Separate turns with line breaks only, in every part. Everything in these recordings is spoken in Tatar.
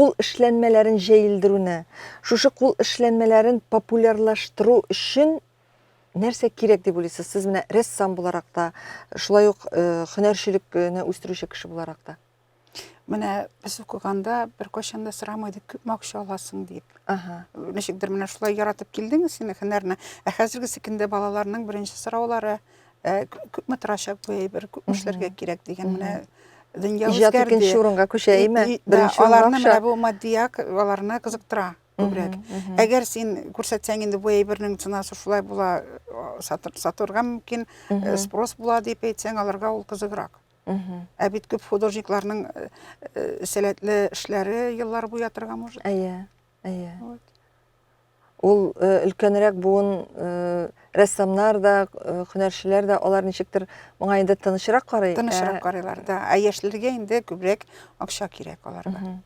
кул эшләнмәләрен җәелдерүне, шушы кул эшләнмәләрен популярлаштыру өчен нәрсә кирәк дип уйлыйсыз? Сез менә рәссам буларак та, шулай ук э, һөнәрчелекне үстерүче кеше буларак та. Менә
без укыганда бер кайчан да сорамайды, күпме акча аласың дип. Ага. Ничектер менә шулай яратып килдең син һөнәрне. Ә хәзерге секендә балаларның беренче сораулары э, күпме торачак бу әйбер, күпме эшләргә кирәк дигән менә дөнья үзгәрде. Иҗат икенче урынга
күчә,
әйме?
Беренче урынга аларны менә бу матдият
аларны кызыктыра күбрәк. Әгәр син күрсәтсәң инде бу әйбернең ценасы шулай була, сатырга мөмкин, э, спрос була дип әйтсәң, аларга ул кызыграк. Ә бит күп художникларның э, э, сәләтле эшләре еллар буе ятырга может. Әйе, әйе.
Ул э, өлкәнрәк буын рәссамнар да, һөнәрчеләр дә алар ничектер моңа инде тынычрак карый. Тынычрак ә карыйлар, да.
Ә яшьләргә инде күбрәк акча кирәк аларга.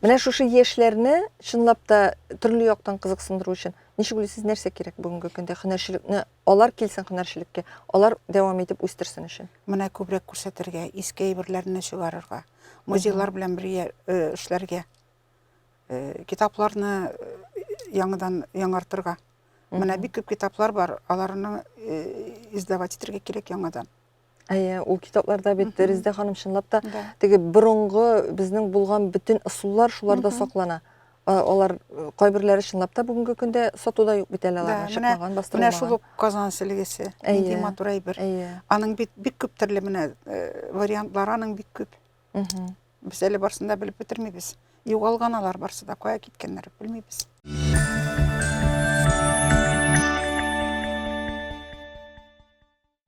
Менә шушы
яшьләрне чынлап та төрле яктан кызыксындыру өчен ничек уйлыйсыз, нәрсә кирәк бүгенге көндә һөнәрчелекне Алар килсен һөнәрчелеккә, алар дәвам итеп үстерсен өчен. Моны күбрәк күрсәтергә,
иске әйберләрне чыгарырга, музейлар белән бергә эшләргә, китапларны яңадан яңартырга. Менә бик күп китаплар бар, аларны издавать итәргә кирәк яңадан. Әйе, ул
китапларда бит Мгм. Резедә ханым чынлап та Да. теге борынгы безнең булган бөтен ысуллар шуларда Мгм. саклана. А, Алар э, кайберләре чынлап та бүгенге көндә сатуда юк бит әле Да, аларның менә- чыкмаган, Менә бастырылмаган. шул ук Казан
селегесе. Нинди Әйе. матур әйбер. Әйе. Аның бит бик күп төрле менә э, вариантлары аның бик күп. Мгм. Без әле барсын да белеп бетермибез. Югалган алар барсы да, кая киткәннәр белмибез.